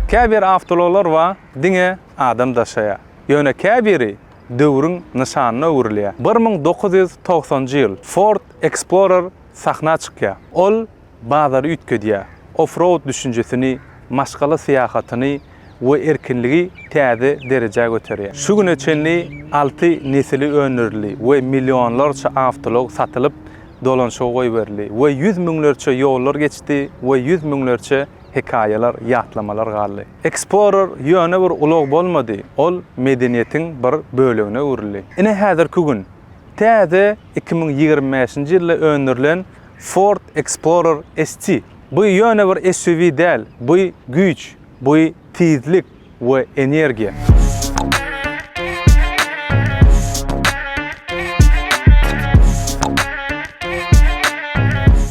Käbir awtoulaglar bar, diňe adam daşaýar. Ýöne käbiri döwrüň nyşanyna öwrülýär. Bir müň dokuz ýüz togsanjy ýyl Ford Explorer sahna çykýar. Ol bazary üýtgedýär, off-road düşünjesini, maşgala syýahatyny, we erkinligi täze derejä göterýär. Şu güne çenli alty nesili öndürildi we millionlarça awtoulag satylyp, dolanyşyga goýberildi we ýüz müňlerçe ýollar geçdi we ýüz müňlerçe hekaýalar, ýatlamalar galdy. Explorer ýöne bir ulag bolmady, ol medeniýetiň bir bölegine öwrüldi. Ine häzirki gün, täze iki müň ýigrimi bäşinji ýylda öndürilen Ford Explorer ST. Bu ýöne bir SUV däl, bu güýç, Bu tizlik we energiýa.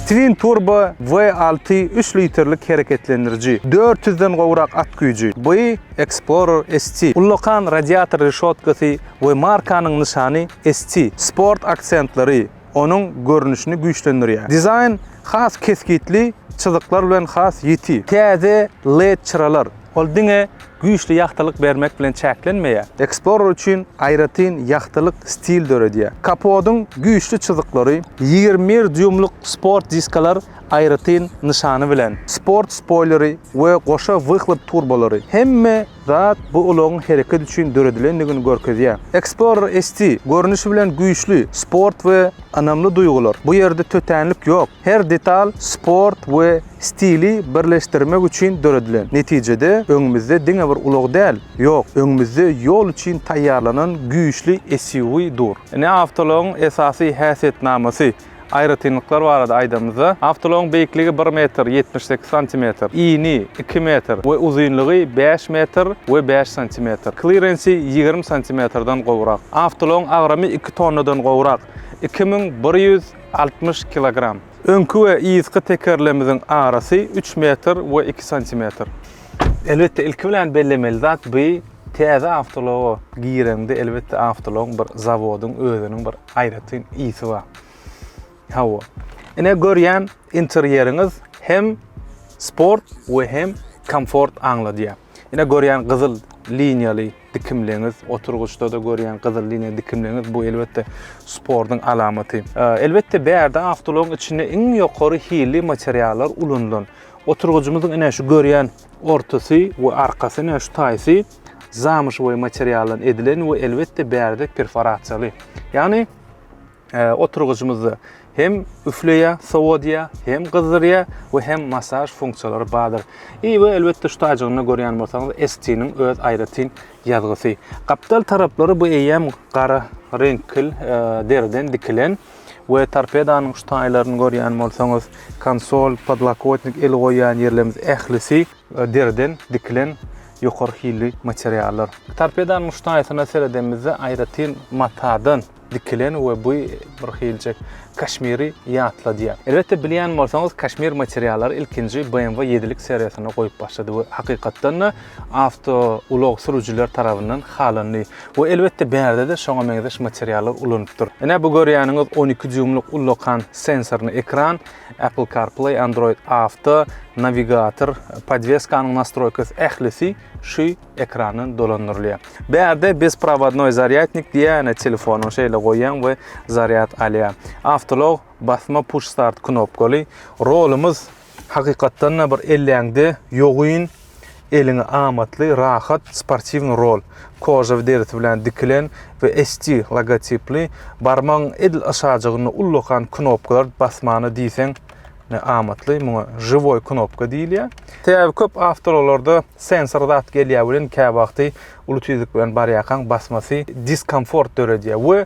Twin Turbo V6 üç litrlik hereketlendiriji, dört ýüz den gowrak at güýji, bu Explorer ST, ullakan radiator reşotkasy we markanyň nyşany ST, sport aksentleri, onuň görnüşini güýçlendirýär. Dizaýn has kesgitli çyzyklar bilen has ýiti. Täze led çyralar, ol diňe güýçli ýagtylyk bermek bilen çäklenmeýär, Explorer üçin aýratyn ýagtylyk stil döredýär. Kapodyň güýçli çyzyklary, ýigrimi bir dýuýmlyk sport diskalar aýratyn nyşany bilen, sport spoýleri we goşa wyhlop turbolary, hemme Zat bu ulagyň hereket üçin döredilendigini görkezýär. Explorer ST, görnüşi bilen güýçli, sport we ynamly duýgular. Bu ýerde tötänlik ýok. Her detal sport we stili birleşdirmek üçin döredilen. Netijede, öňümizde diňe bir ulag däl, ýok, öňümizde ýol üçin taýýarlanan güýçli SUV dur. Ine awtoulagyň esasy häsiýetnamasy. Aýratynlyklar barada aýdanymyzda, awtoulagyň beýikligi bir metr ýetmiş sekiz santimetr, ini iki metr we uzynlygy bäş metr we bäş santimetr, klirensi ýigrimi santimetrden gowrak. Awtoulagyň agramy iki tonnadan gowrak, iki müň bir ýüz altmyş kilogram. Öňki we yzky tekerlemiziň arasy üç metr we iki santimetr. Elbetde ilki bilen bellemeli zat bu täze awtoulaga gireňde elbetde awtoulagyň bir zawodyň özüniň bir Aýratyn ysy bar. Hawa. Ine görýän interýeriňiz hem sport we hem komfort aňladýar. Ine görýän gyzyl liniýaly dikimliňiz, oturgyçda-da görýän gyzyl liniýa dikimliňiz bu elbetde sportuň alamaty. Elbetde bärde awtoulagyň içinde iň ýokary hilli materiallar ulanylan. Oturgyjymyzyň ine şu görýän Ortasy we arkasy ne şu taýsy zamuşowy materialdan edilen we elbetde bärde perforasiýaly. Ýagny e, oturgyjymyzda hem üfleýä, sowodýa, hem gyzdyrýa we hem masaž funksiýalary bardyr. I we elbetde şu taýjygynda görýän bolsaňyz ST-niň öz aýratyn ýazgysy. Gapdal taraplary bu eýýäm gara reňkil e, deriden dikilen. we torpedanyň şu taýlaryny görýän bolsaňyz, konsol, podlokotnik, el goýýan ýerlerimiz ählisi deriden dikilen ýokary hilli materiallar. Torpedanyň şu taýsyna seredemizde aýratyn matadan dikilen we bu bir hiljek kaşmiri ýatladýar. Elbetde bilýän bolsaňyz kaşmir materiallary ilkinji BMW ýedilik seriýasyna goýup başlady we hakykatdan-da awtoulag sürüjiler tarabyndan halandy we elbetde bärde-de şoňa meňzeş materiallar ulanypdyr. Ine bu görýäniňiz on iki dýuýmlyk ullakan sensorly ekran, Apple CarPlay, Android Auto, nawigator, podweskanyň nastroýkasy ählisi şu ekrandan dolandyrylýar. Bärde bezprowodnoý zarýadnik diýýär, ýöne telefonyňy şeýle goýýaň we zarýad alýar. Awtoulag basma push start knopkaly. Rolumyz Hakykatdan-da bir elläňde ýogyn, eliňe amatly, rahat, sportiwnyý rol, kožawy derisi bilen dikilen we ST logotipli, barmagyň edil aşajygynda ullakan knopkalar basmana diýseň ne amatly, muňa žiwoý knopka diýilýär. Sebäbi köp awtoulaglarda sensor zat gelýär welin käwagty uly tizlik bilen barýarkaň basmasy diskomfort döredýär we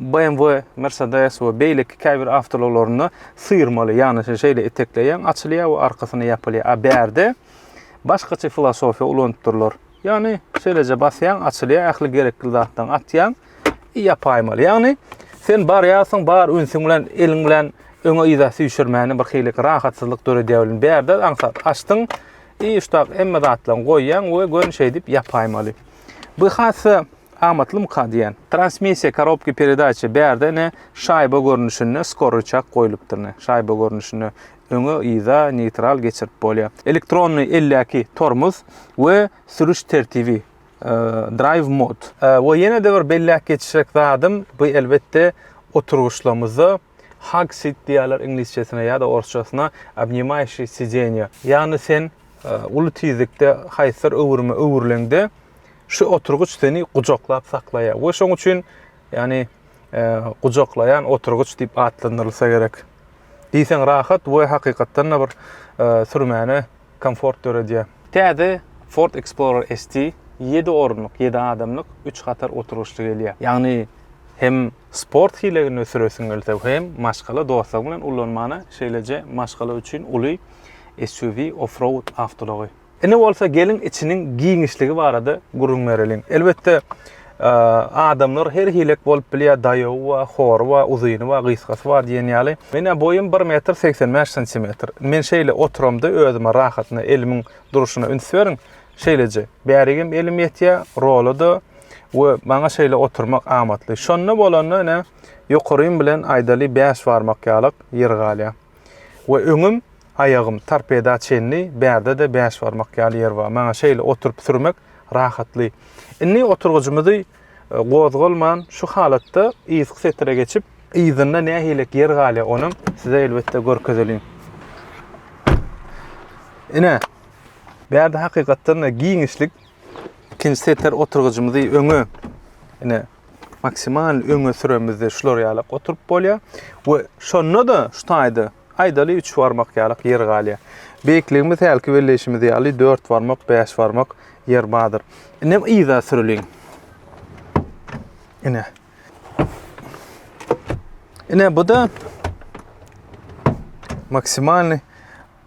BMW, Mercedes we beýleki käbir awtoulaglarynda syrmaly, ýagny şeýle etekleýäň, açylýar we arkasyna ýapylýar. A bärde başgaça filosofiýa ulanypdyrlar. Ýagny şeýleje basýaň, açylýar, ähli gerekli zatlaryňy atýaň i ýapaýmaly. Ýagny sen barýarsyň, bar ünsüň bilen, eliň bilen öňe-yza süýşürmäne bir hili rahatsyzlyk döredýär welin, bärde aňsat açdyň i şutak hemme zatlaryňy goýýaň we görn şeýdip ýapaýmaly. Bu hassa Amatlymyka diýýän. Transmissiýa, korobka peredaça, bärde ine şaýba görnüşinde skorryçak goýlupdyr ine. Şaýba görnüşinde öňe, yza, neýtral geçirip bolýa. Elektronny eldäki tormuz we sürüş tertibi, Drive mode. We ýene-de bir belläp geçjek zadym, bu elbetde oturgyçlamyzda Hug sit diýýärler iňlisçesine ýa-da orsçasyna obnimaýşi sideniýa. Ýagny sen uly tizlikde haýsydyr öwrüme öwrüleňde, şu oturgyç seni gujaklap saklaýar we şoň üçin, ýagny gujaklaýan oturgyç diýip atlandyrylsa gerek. Diýseň rahat we hakykatdan-da bir sürmäne komfort döredýär. Täze Ford Explorer ST ýedi orunlyk, ýedi adamlyk, üç hatar oturgyçly gelýär. Ýagny hem sport hileginde süresiň gelse, hem maşgala dostlaryň bilen ullanmana, şeýleje maşgala üçin uly SUV off-road awtoulagy. Indi bolsa geliň içiniň giňişligi barada gürrüň bereliň. Elbetde Adamlar her hilek bolup bilýär, daýawy bar, hory bar, uzyny bar, gysgasy bar diýen ýaly. Menä boýum bir metr segsen bäş santimetr. Men şeýle oturamda özüme rahatyna elimiň durşuna üns beriň, şeýleje. Bärigem elim ýetýär, rola-da we maňa şeýle oturmak amatly. Şonda bolanda ine, ýokarym bilen aýdaly bäş barmak ýalyk ýer galýar. we öňüm, aýagym torpeda çenli, bärde-de bäş barmak ýaly ýer bar. Maňa şeýle oturyp sürmek rahatly. Indi oturgyjymyzy gozgalman, şu halatda yzky setire geçip, yzynda nähilek ýer galýar, onam size elbetde görkezeliň. Ine, bärde hakykatdan-da giňişlik. Ikinji setir oturgyjymyzy öňe, ine, maksimal öňe süremizde şular ýalak oturyp bolýar we şonda-da şu taýda aýdaly 3 barmak ýalak ýer galýar. Beýikligimiz hälki belleýşimiz ýaly 4 barmak, 5 barmak ýer bardyr. Inem yza süreliň. Ine. Ine bu da maksimalny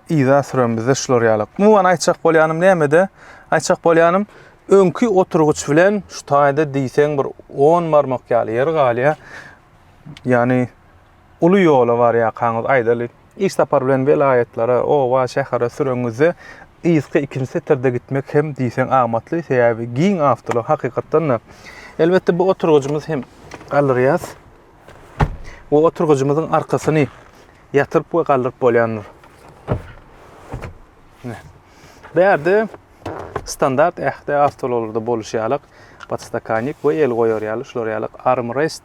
Yza süremizde şular ýaly. Umuman aýtjak bolýanym nämede? Aýtjak bolýanym, öňki oturgyç bilen şu taýda diýseň bir on barmak ýaly ýer galýar. Ýani uly ýola barýarkaňyz aýdaly, iş sapary bilen welaýatlara, oba, şähere süreňizde yzky ikinji setirde gitmek hem diýseň amatly, sebäbi giň awtoulaglar hakykatdan-da. Elbetde bu oturgyjymyzy hem galdyrýas. Bu oturgyjymyzyň arkasyny ýatyryp we galdyryp bolýandyr. Bärde standart ähli awtoulaglarda boluşy ýalak podstakannik we el goýar ýaly şular ýaly armrest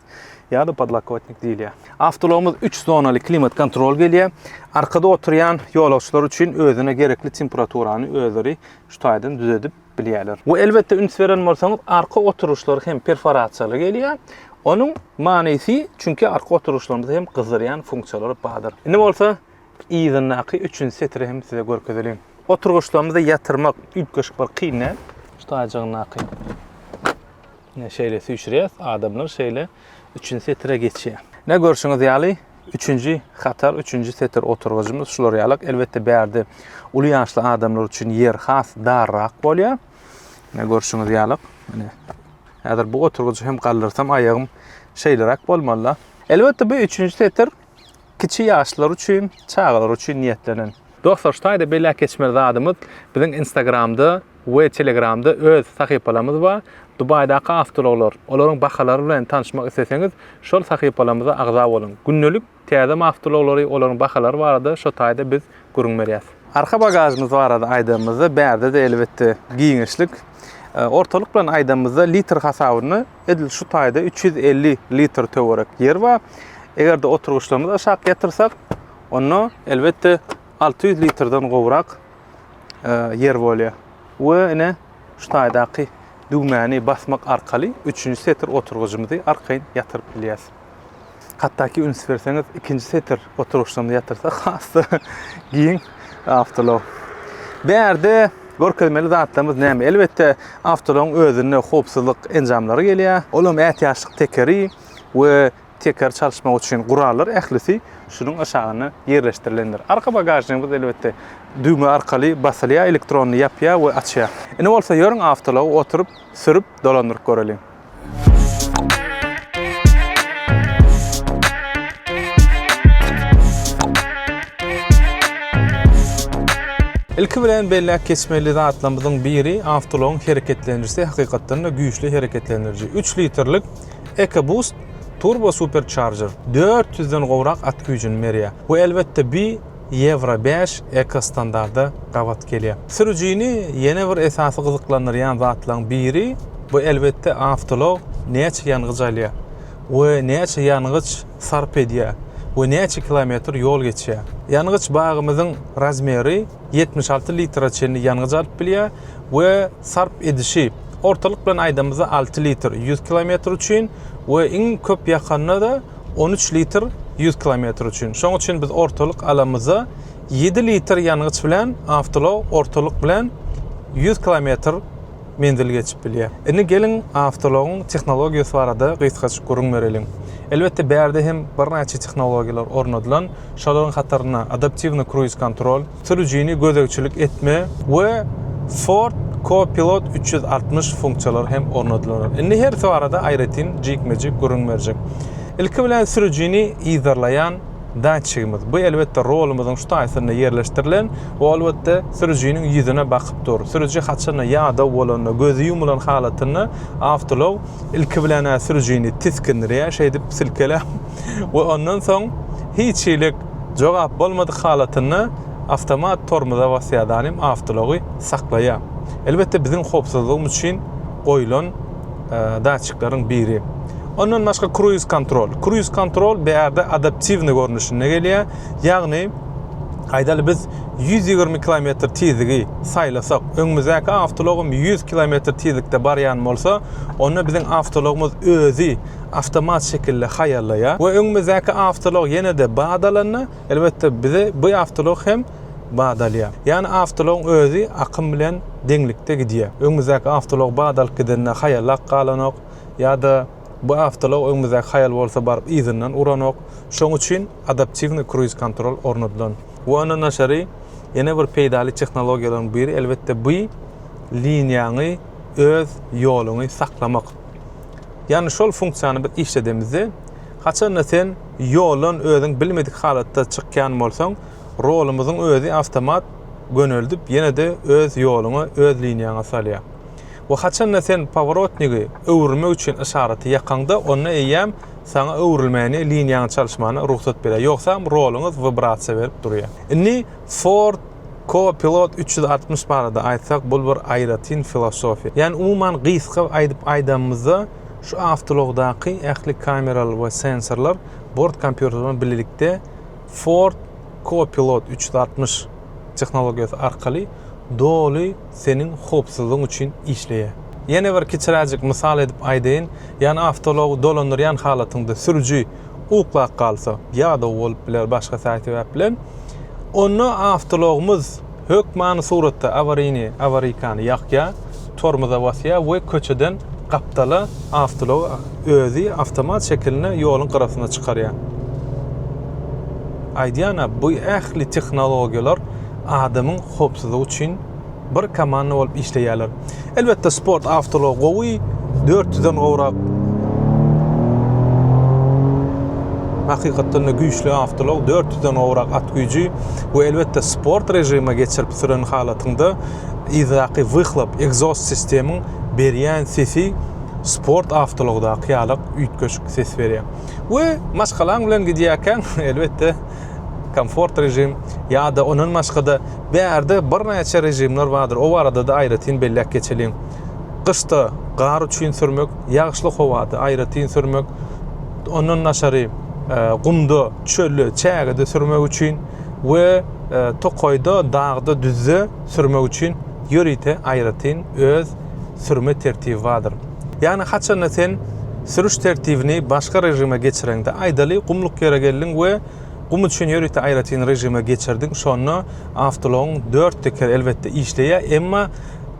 ýa-da podlokotnik diýilýär. Awtoulagymyz 3 zonaly klimat kontrol gelýär. Arkada oturýan ýolagçylar üçin özüne gerekli temperaturany özleri şu taýdan düzedip bilýärler. We elbetde üns beren bolsaňyz arka oturyşlar hem perforasiýaly gelýär. Onuň manysy çünki arka oturyşlarymyzy hem gyzdyrýan funksiýalary bardyr. Indi bolsa yzyndaky üçünji setiri hem size görkezeliň. Oturgyçlarymyzy ýatyrmak üýtgeşik bir kyn däl şu taýjygyndaky. Şeýle süýşürýäs, adamlar şeýle üçünji setire geçýär. Ine görşüňiz ýaly, üçünji hatar, üçünji setir oturgyjymyz şular ýalak. Elbetde bärde uly ýaşly adamlar üçin ýer has darrak bolýar. Ine görşüňiz ýalak. Ine. Häzir bu oturgyjy hem galdyrsam aýagym şeýleräk bolmaly. Elbetde bu üçünji setir Kiçi ýaşlar üçin, çagalar üçin niýetlenen. Dostlar şu taýda belläp geçmeli zadymyz biziň instagramda we telegramda öz sahypalarymyz bar. Dubaýdaky awtoulaglar, olaryň bahalary bilen tanşmak isleseňiz şol sahypalarymyza agza boluň. Gündelik täze awtoulaglary olaryň bahalary barada şo taýda biz gürrüň berýäs. Arka bagažymyz barada aýdanymyzda bärde-de elbetde giňişlik. Ortalyk bilen aýdanymyzda litr hasabyny. Edil şu taýda 350 litr töwerek ýer bar. Eger-de oturgyçlarymyzy aşak ýatyrsak, onda elbetde 600 litrden gowrak e, ýer bolýar. We ine şu taýdaky düwmäni basmak arkaly 3-nji setir oturgyjymyzy arkaýyn ýatyryp bilýäs. Hatdaki üns berseňiz ikinji setir oturyşdan ýatyrsa has-da giň awtolog. Bärde görkezmeli zatlarymyz näme? Elbetde awtologyň özünde howpsuzlyk enjamlary gelýär. Ol hem ätiýaçlyk tekeri we tekeri çalyşmak üçin gurallar ählisi şunuň aşagynda ýerleşdirilendir. Arka bagažnigimiz elbetde düwme arkaly basylýar, elektronly ýapýar we açýar. Indi bolsa ýörüň awtology oturyp sürüp dolandyryp göreliň. Ilki bilen belläp geçmeli zatlarymyzyň biri awtoulagyň hereketlenijisi hakykatdan-da güýçli hereketlendiriji. Üç litrlik EcoBoost Turbo Supercharger dört ýüzden gowrak at güýjüni berýär. Bu elbetde bi Ýewro bäş ekostandarda gabat gelýär. Sürüjini ýene bir esasy gyzyklandyrýan zatlaryň biri, bu elbetde awtoulag näçe ýangyç alýar we näçe ýangyç sarp edýär we näçe kilometr ýol geçýär. Ýangyç bagymyzyň razmeri ýetmiş alty litre çenli ýangyç alyp bilýär we sarp edişi, ortalyk bilen aýdamyzda alty litr ýüz kilometr üçin we iň köp ýakanda-da, On üç litr ýüz kilometr üçin. Şoň üçin biz ortalyk alamyza ýedi litr ýangyç bilen awtoulag ortalyk bilen ýüz kilometr menzil geçip bilýär. Indi geliň awtoulagyň tehnologiýasy barada gysgaçyk gürrüň bereliň. Elbetde bärde hem birnäçe tehnologiýalar ornadylan, şolaryň hatarynda adaptiwny kruiz kontrol, sürüjini gözegçilik etme we Ford Co-Pilot üç ýüz altmyş funksiýalary hem ornadylar. Indi hersi barada aýratyn jikme-jik gürrüň berjek. Ilki bilen sürüjini yzarlaýan datçigimiz. Bu elbetde rolumyzyň şu taýsynda ýerleşdirilen we elbetde sürüjiniň ýüzüne bakyp dur. Sürüji haçanda ýadaw bolanda, gözi ýumulan halatynda awtoulag ilki bilen-ä sürüjini tiskindirýär, şeýdip silkeläp, we ondan soň hiç hili jogap bolmadyk halatynda awtomat tormoza basýardanym awtoulagy saklaýar. Elbetde biziň howpsuzlygymyz üçin goýlan datçikleriň biri. Ondan başga kruiz kontrol. Kruiz kontrol bärde adaptiwny görnüşinde gelýär. Ýagny aýdaly biz ýüz ýigrimi kilometr tizligi saýlasak, öňümizdäki awtoulag hem ýüz kilometr tizlikde barýan bolsa, onda biziň awtoulagymyz özi awtomat şekilde haýallaýar we öňümizdäki awtoulag ýene-de bat alanda, elbetde, bize bu awtoulag hem bat alýar. Ýagny awtoulagyň özi akym bilen deňlikde gidýär. Öňümizdäki awtoulag bat alyp gidende haýallap galanok ýa-da bu awtoulag öňümizdäki haýal bolsa baryp yzyndan uranok. Şonuň üçin adaptiwnyý kruiz-kontrol ornadylan. We ondan daşary ýene bir peýdaly tehnologiýalaryň biri, elbetde, bu liniýaňy, öz ýoluňy saklamak. Ýagny şol funksiýany biz işledemizde, haçanda sen ýoldan özüň bilmedik halatda çykýan bolsaň, rolumyzyň özi awtomat göneldip ýene-de öz ýoluňa, öz liniýaňa salýar. We haçanda sen paworotnigi öwrülmek üçin yşaraty ýakaňda, onda eýýäm saňa öwrülmäni, liniýaňy çalyşmana rugsat berýär. Ýogsam roluňyz wibrasiýa berip durýar. Indi Ford Co-pilot üç ýüz altmyş barada aýtsak, bul bir aýratyn filosofiýa. Ýagny umuman gysga aýdyp aýdanymyzda, şu awtoulagdaky ähli kameralar we sensorlar bort kompýuteri bilen bilelikde Ford Co-pilot üç ýüz altmyş tehnologiýasy arkaly doly seniň howpsuzlygyň üçin işleýär. Ýene bir kiçiräjik mysal edip aýdaýyn, ýagny awtoulagy dolandyrýan halatyňda sürüji uklap galsa, ýadaw bolup biler, başga sähel sebäp bilen. Onda awtologymyz hökmany suratda awaryny, awarykany ýakýar, tormoza basýar we köçeden gapdala awtology özi awtomat şekilinde ýoluň gyrasyna çykarýar. Aýdýan-a, bu ähli tehnologiýalar adamyň howpsuzlygy üçin Bir komanda bolup işleýärler. Elbetde sport awtoulag gowy, dört ýüzden gowrak hakykatdanda güýçli awtoulag, dört ýüzden gowrak at güýji we elbetde sport režime geçirip süren halatyňda yzdaky wyhlap, egzost sistemiň berýän sesi sport awtoulagdaky ýalak üýtgeşik ses berýär. We maşgalaň bilen gidýärkäň elbetde komfort režim ýa-da ondan başga-da bärde birnäçe režimler bardyr. O barada-da aýratyn belläp geçeliň. Gyşda gar üçin sürmek, ýagyşly howada aýratyn sürmek, ondan daşary e, gumda, çölde, çägede sürmek üçin we e, tokaýda, dagda, düzde sürmek üçin ýörite aýratyn öz sürme tertibi bardyr. Ýagny haçanda sen sürüş tertibini başga režime geçireňde, aýdaly, gumluk ýere geldiň we gum üçin ýörite aýratyn režime geçirdiň, şonda awtoulagyň dört tekeri elbetde işleýär, emma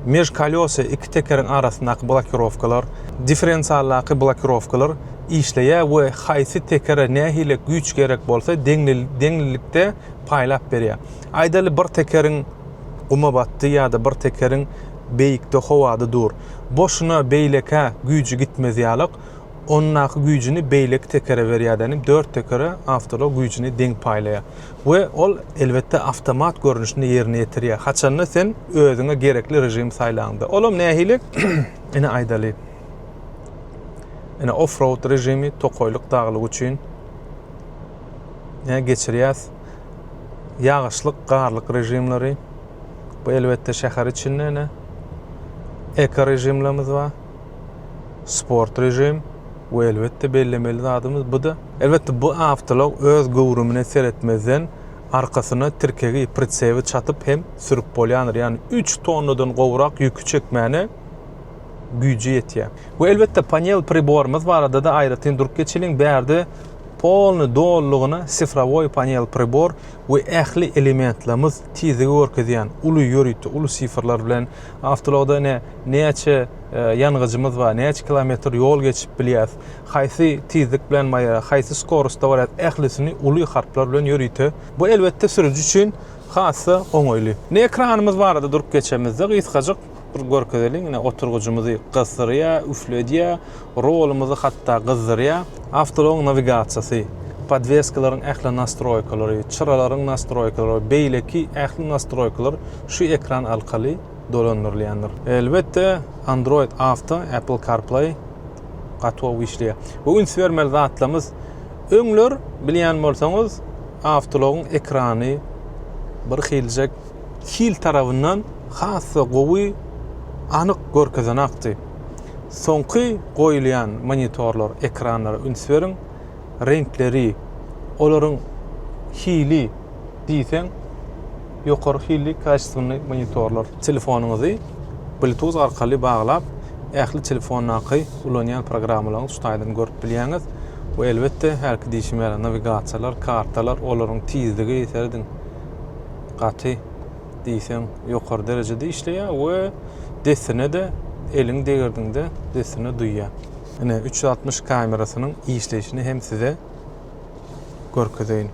межколёсый, iki tekeriň arasyndaky blokirowkalar, differensialdaky blokirowkalar işleýär we haýsy tekere nähili güýç gerek bolsa, deňlilikde paýlap berýär. Aýdaly, bir tekeriň guma batdy ýa-da bir tekeriň beýikde howada dur. Boşuna beýlekä güýji gitmez ýalak, ondaky güýjini beýleki tekere berýärdenim dört tekere awtolog güýjini deň paýlaýar we ol elbetde awtomat görnüşinde ýerine ýetirýär haçanda sen özüňe gerekli režimi saýlaňda olam nähili ine aýdaly ine offroad režimi tokaýlyk daglyk üçin ine geçirýäs ýagyşlyk garlyk režimleri Bu elbetde şäher içinde ene eko rejimlerimiz bar. Sport rejim we elbetde bellemeli zadymyz bu da elbetde bu awtolog öz göwrümine seretmezden arkasyna tirkegi, pritsebi çatyp hem sürüp bolýandyr. Ýagny üç tonnadan gowrak ýüki çekmäne güýji ýetýär. We elbetde panel priborymyz barada-da aýratyn durup geçeliň. Bärde polny dolulygyna sifrowoý panel pribor. we ähli elementlerimiz tizligi görkezýän uly ýörite uly sifrlar bilen awtologda ine näçe ýangyjymyz bar näçe kilometr ýol geçip bilýäs haýsy tizlik bilen maýa haýsy skorusda barýas ählisini uly harplar bilen ýörite bu elbetde sürüji üçin hasda oňaýly ine ekranymyz barada durup geçemizde gysgajyk Bir görkezeliň ine oturgyjymyzy gysdyrýa, üfledýä, rolumyzy hatda gyzdyrýa. Awtoulagyň nawigasiýasy, podweskalaryň ähli nastroýkalary, çyralaryň nastroýkalary, beýleki ähli nastroýkalar şu ekran alkaly dolandyrylýandyr. Elbetde Android Auto, Apple CarPlay gatow işleýär. Bu üns bermeli zatlarymyz. Öňler bilýän bolsaňyz awtoulagyň ekrany bir hiljek hil tarabyndan has-da gowy anyk görkezen akdy. Soňky goýulýan monitorlar, ekranlara üns beriň, reňkleri, olaryň hili diýseň ýokary hilli kaçestwny monitorlar. Telefonyňyzy Bluetooth arkaly baglap, ähli telefondaky ulanýan programmalaryňyzy şu taýdan görüp bilýäňiz we elbetde hälki diýşim ýaly nawigasiýalar, kartalar, olaryň tizligi, serediň, gaty diýseň ýokary derejede işleýär we dessine-de eliň degirdiňde dessine duýýar. Ine, üç ýüz altmyş kamerasynyň işleýşini hem size görkezeýin.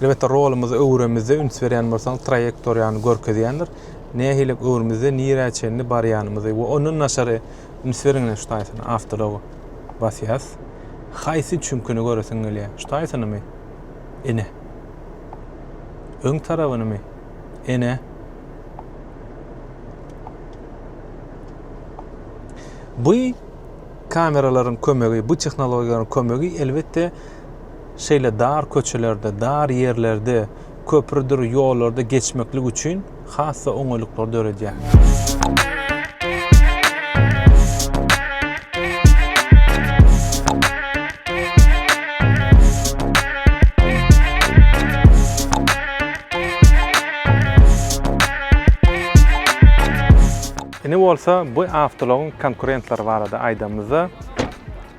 Elbetde, rolumyzy öwüremizde üns berýän bolsaňyz, traýektoriýany görkezýändir. Nähililik öwrümizde nirä çenli barýanymyzy we ondan daşary üns beriň ine şu taýsyna, awtology basýas. Haýsy çüňküni göresiň gelýär? Şu taýsynymy? Ene. Öň tarabynymy? Ene. Bu kameralaryň kömegi, bu tehnologiýalaryň kömegi elbetde şeýle dar köçelerde, dar ýerlerde, köprüdir ýollarda geçmeklik üçin has-da oňaýlyklar döredýär. Indi bolsa bu awtoulagyň konkurentleri barada aýdamyzda,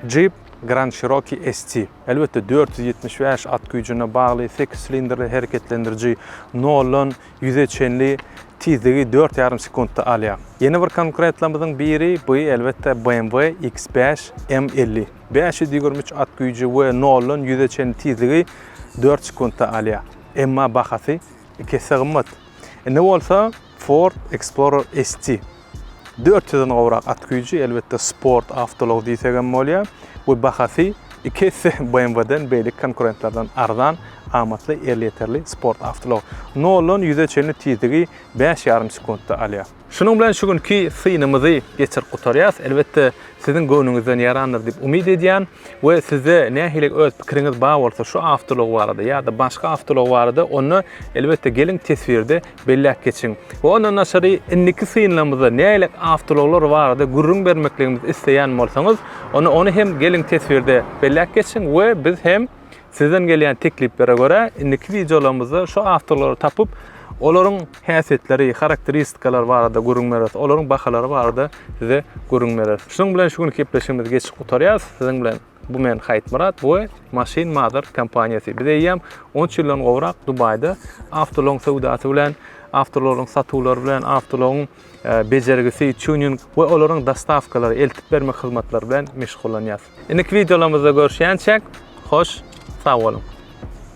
Jeep Grand Cherokee ST. Elbetde, dört ýüz ýetmiş bäş at güýjüne bagly sekiz silindrli hereketlendiriji noldan ýüze çenli tizligi dört ýarym sekuntda alýar. Ýene bir konkurentlerimiziň biri bu, elbetde, BMW X bäş M elli. Bäş ýüz ýigrimi üç at güýji we noldan ýüze çenli tizligi dört sekuntda alýar. Emma bahasy ikisi-de gymmat. Indi bolsa Ford Explorer ST. Dört ýüzden gowrak at güýji, elbetde, sport awtoulag diýsek hem bolýar we bahasy iki esse BMW-den, beýleki konkurentlerden arzan, amatly, elýeterli sport awtoulag. Noldan ýüze çenli tizligi bäş ýarym sekuntda alýar. Şunuň bilen şu günki synymyzy geçirip gutarýarys. Elbetde, siziň göwnüňizden ýarandyr diýip umyt edýän we sizde nähili öz pikiriňiz bar bolsa şu awtoulag barada ýa-da başga awtoulag barada, onda, elbetde, geliň teswirde Belläp geçiň. Ondan daşary, indiki synlamyzda nägilek awtoulaglar barada gürrüň bermekligimizi isleýän bolsaňyz, onda ony hem geliň teswirde belläp geçiň we biz hem sizden gelýän tekliplere görä indiki wideolarymyzda şu awtoulaglary tapyp, olaryň häsiýetleri, harakteristikalary barada gürrüň bereris, olaryň bahalary barada size gürrüň bereris. Şunuň bilen şu günki gepleşigimizi geçip gutarýarys siziň bilen. Bu men Haýtmyrat we Machine Motors kompaniýasy. Biz eýýäm on üç ýyldan gowrak Dubaýda awtoulagyň söwdasy bilen, awtoularyň satuwlary bilen, awtoulagyň e, bejergisi, tuning we olaryň dostawkalary, eltip bermek hyzmatlary bilen meşgullanýarys. Indiki wideolarymyzda görüşýänçäk, hoş, sag boluň!